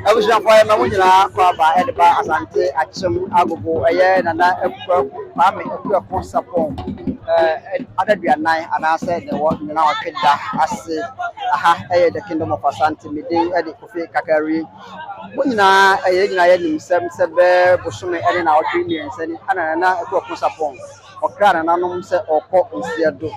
Abusuafo a yɛma mo nyinaa kɔ aba de ba Asante Akyem Agogo ɛyɛ Nana Akua Kwame Akuako Sapon ɛɛ adaduanan anaasɛ deɛ ɛwɔ nyina ɔtwe da ase aha ɛyɛ the kingdom of Asante me din ɛde Kofi Kakari mo nyinaa ɛyɛ nyinaa yɛ nim sɛm sɛ bɛɛ bosome ɛne na ɔtwe mmiɛnsa ni ɛna Nana Akuako Sapon ɔkra nananom sɛ ɔkɔ nsiɛ do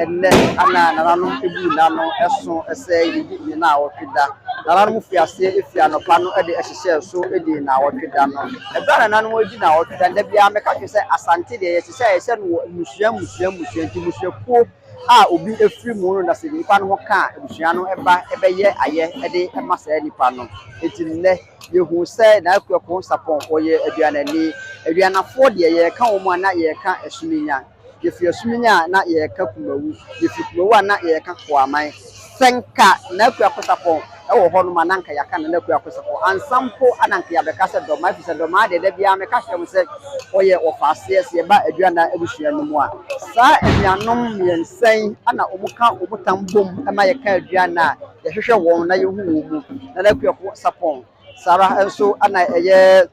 Ɛnnɛ ana nananom buu n'ano so sɛ yedi ne nnawɔtwe da? Nananom fii aseɛ fii anɔpa no de hyehyɛɛ so dii nnawɔtwe da no. Ɛberɛ a nananom redi nnawɔtwe da no, da biara mɛka kyerɛ sɛ Asante deɛ yɛhyehyɛ a yɛhyɛ no wɔ mmusua mmusua mmusua nti mmusuakuo a obi firi mu no na sɛ nnipa no ho ka a abusua no ba bɛyɛ ayɛ de ma saa nnipa no. Enti nnɛ yɛhuu sɛ Nana Kweku Sapong ɔyɛ aduanani. Aduanafoɔ deɛ yɛka wɔn a na yɛka Asuminya. Yɛfiri Asumini a na yɛreka Kumawu, yɛfiri Kumawu a na yɛreka Koaman. Sɛ nka Nana Akua Kosapɔn wɔ hɔ nom a, na nka yɛaka Nana Akua Kosapɔn. Ansa mpo a na nka yɛabɛka sɛ Dɔmaa, ɛfiri sɛ Dɔmaa deɛ da biara meka kyerɛ mo sɛ ɔyɛ ɔfaaseɛ sɛ yɛba Aduanan abusua no mu a. Saa anuanom mmiɛnsa yi na wɔka wɔn tam bom ma yɛka Aduanan a yɛhwehwɛ wɔn na yɛhu wɔn mu, Nana Akua Kosapɔn, Saa ara nso na ɛyɛ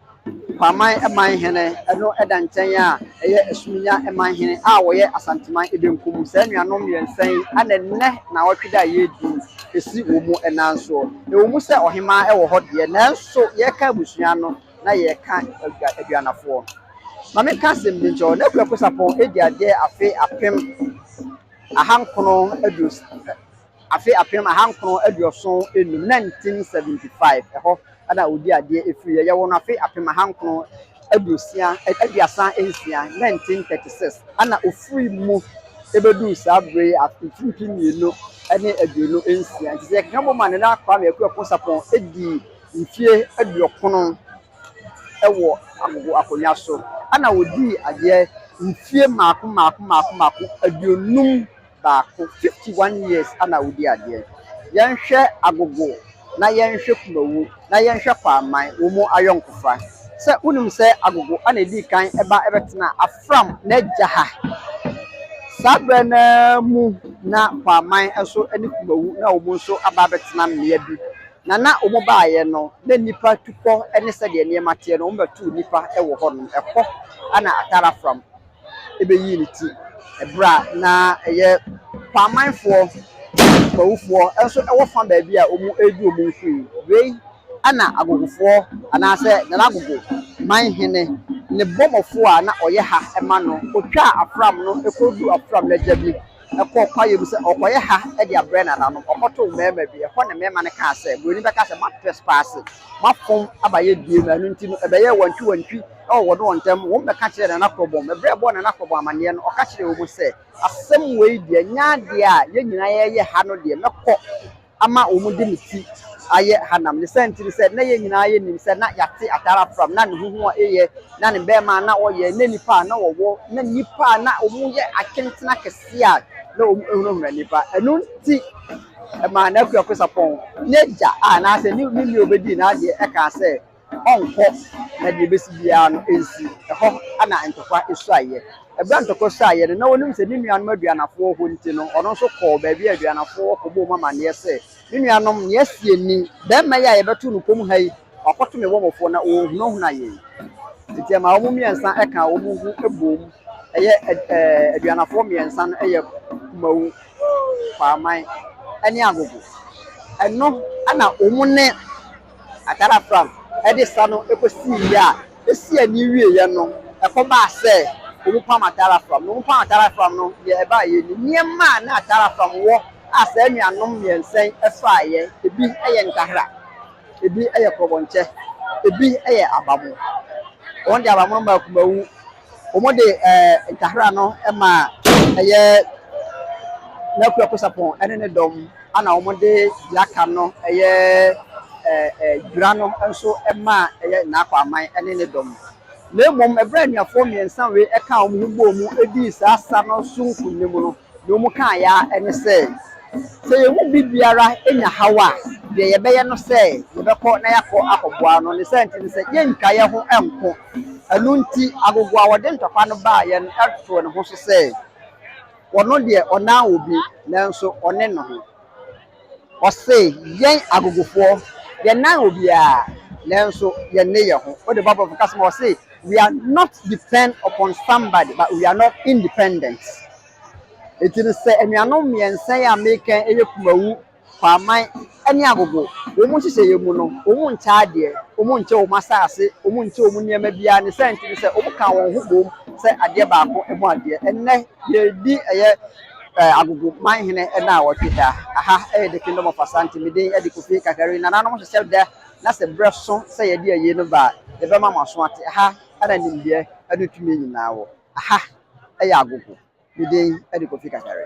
Kwaman man hene, ɛno da nkyɛn a ɛyɛ Asuminya man hene a wɔyɛ Asanteman benkum. Saa nuanom mmiɛnsa yi na nnɛ nnawɔtwe da a yɛredi ɛsi wɔn nan soɔ. Ɛwɔ mu sɛ ɔhemaa wɔ hɔ deɛ, nanso yɛreka abusua no na yɛreka Aduanafoɔ. Ma menka asɛm bi nkyerɛ wo, Nɛkua Aposapɔn di adeɛ afe apem ahankono aduosia. Afe apem ahankron aduɔson enum, 1975, ɛhɔ na ɔdii adeɛ firiiɛ. Yɛwoo no afe apem ahankron aduosia, aduasa nsia, 1936, ɛna ɔfirii mu bɛduu saa berɛ yi mfimfini mmienu ne aduonu nsia. Nti sɛ yɛkeka bom a Nana Kwame Akuapon Sarpong dii mfeɛ aduokron wɔ agogo akonnwa so, ɛna ɔdii adeɛ mfeɛ mmaako mmaako mmaako mmaako aduonum. baako fifty one years ana wodi adeɛ yɛnhwɛ agogo na yɛnhwɛ kumawu na yɛnhwɛ kwaman wɔn mu ayɔnkofa sɛ wonim sɛ agogo ana ɛdii kan ɛba ɛbɛtena afram n'agya ha saa berɛ no ara mu na kwaman nso ne kumawu na wɔn nso aba abɛtena mmea bi na na wɔn baayɛ no na nnipa tukɔ ne sɛdeɛ nneɛma teɛ no wɔn bɛtu nnipa wɔ hɔ nom ɛhɔ ana atara fram. bɛyii ne ti berɛ a na ɛyɛ Kwanmanfoɔ Mawufoɔ nso wɔ fa baabi a wɔredi wɔn mfiri. Wei na Agogofoɔ anaasɛ Nana Agogo Manhene ne bɔmmɔfoɔ a na ɔyɛ ha ma no. Ɔtwaa Afram no kɔduruu Afram no agya bi kɔɔ kwaeɛ mu sɛ ɔrekɔyɛ ha de abrɛ nananom. Ɔkɔtoo mmarima bi. Ɛhɔ na mmarima no kaa sɛ, buroni bɛkaa sɛ, moatrespaase, moafom aba yɛn dua mu, ɛno nti no ɛbɛyɛɛ wantwiwantwi Ɛwɔ wɔne wɔn ntam, wɔn bɛka kyerɛɛ Nana Korɔbɔm. Ɛberɛ a ɛbɔɔ Nana Korɔbɔm amaneɛ no, ɔka kyerɛɛ wɔn sɛ, Asɛm wei deɛ, nyɛ adeɛ a yɛn nyinaa yɛreyɛ ha no deɛ, mɛkɔ ama wɔn de me ti ayɛ hanam. Ne saa nti ne sɛ, na yɛn nyinaa yɛnim sɛ na yɛate Atare Afram, na ne ho ho a ɛyɛ, na ne bɛɛma a na ɔyɛ, na nnipa a na ɔwɔ, na nnipa a na wɔn yɛ akentene akɛseɛ a na wɔn hunahuna nnipa. Ɛno nti ɛmaa n'akuakusapɔn. N'agya a anaasɛ ne nua a ɔbɛdii n'adeɛ kaa sɛ, ɔnkɔ na deɛ ɛbɛsi biara no ɛnsi. Ɛhɔ na ntɔkwa suaeɛ. Ɛberɛ a ntɔkwa suaeɛ no, na ɔnim sɛ ne nuanom aduanafoɔ wɔ hɔ nti no, ɔno nso kɔɔ baabi a aduanafoɔ wɔ kɔbɔɔ wɔn amanneɛ sɛ, Me nuanom, nea asie ni, barima yi a yɛbɛtoo no komm ha yi, wakɔto me wɔmfoɔ na ɔrehunahuna yɛn. Enti ɛmaa wɔn mmiɛnsa kaa wɔn ho boom yɛ aduanafoɔ mmiɛnsa no yɛ Kumau, Kwaaman ne Agogo. Ɛno na wɔn ne. Atar Afram de sa no kosii yɛ a esii ani wieeɛ no, ɛkɔbaa sɛ wɔpam Atar Afram. Na wɔpam Atar Afram no, deɛ ɛbaa yɛ ni, Nneɛma a na Atar Afram wɔ a saa anuanom mmiɛnsa yi faeɛ, ebi yɛ nkahra, ebi yɛ korɔbɔnkyɛ, ebi yɛ abamo. Wɔn deɛ abamo no maa akumawu. wɔde ɛɛ ntahra no ma ɛyɛ N'Akuo Akoto Sarpong ne ne dɔm, ɛna wɔde deɛ aka no ɛyɛ ɛɛ ɛɛ Dwira no nso ma ɛyɛ Na'Ko Aman ne ne dɔm. Na mmom, ɛberɛ a anuafoɔ mmiɛnsa wei kaa wɔn ho bɔɔ mu dii saa sa no so nkonim no, Nea wɔkaeɛ ara ne sɛ, sɛ yɛn mu biribiara nya haw a, deɛ yɛbɛyɛ ne sɛ yɛbɛkɔ na yɛakɔ akɔboa no. Ne saa nti no, sɛ yɛntwa yɛn ho nko. Ɛno nti, agogo a ɔde ntɔkwa no baa yɛn no too ne ho so sɛ, Ɔno deɛ, ɔnnan obi, nanso ɔne ne ho. Ɔse, Yɛn agogofoɔ, yɛnnan obiara, nanso yɛnne yɛn ho. Wode Bible bɛka sɛ ma ɔse, We are not depend upon somebody, but we are not independent. Enti no, sɛ anuanom mmiɛnsa yi a meka yi yɛ Kumawu, Kwaaman ne Agogo, wɔn nhyehyɛeɛ mu no, wɔn nkyɛ adeɛ, wɔn nkyɛ wɔn asase, wɔn nkyɛ wɔn nneɛma biara. Ne saa nti no, sɛ wɔkaa wɔn ho boom sɛ adeɛ baako bɔ adeɛ. Ɛnnɛ, yɛredi ɛyɛ. Eh, agogo man hene na wɔtwe da. Aha ɛyɛ the kingdom of Asante. Me din ɛde Kofi Kakari. Nananom hyehyɛ dɛ na sɛ berɛ so sɛ yɛde ayie no ba a, yɛbɛma mo aso ate. Aha ɛna nimdeɛ ɛne tumi nyinaa wɔ. Aha ɛyɛ agogo. Me din ɛde Kofi Kakari.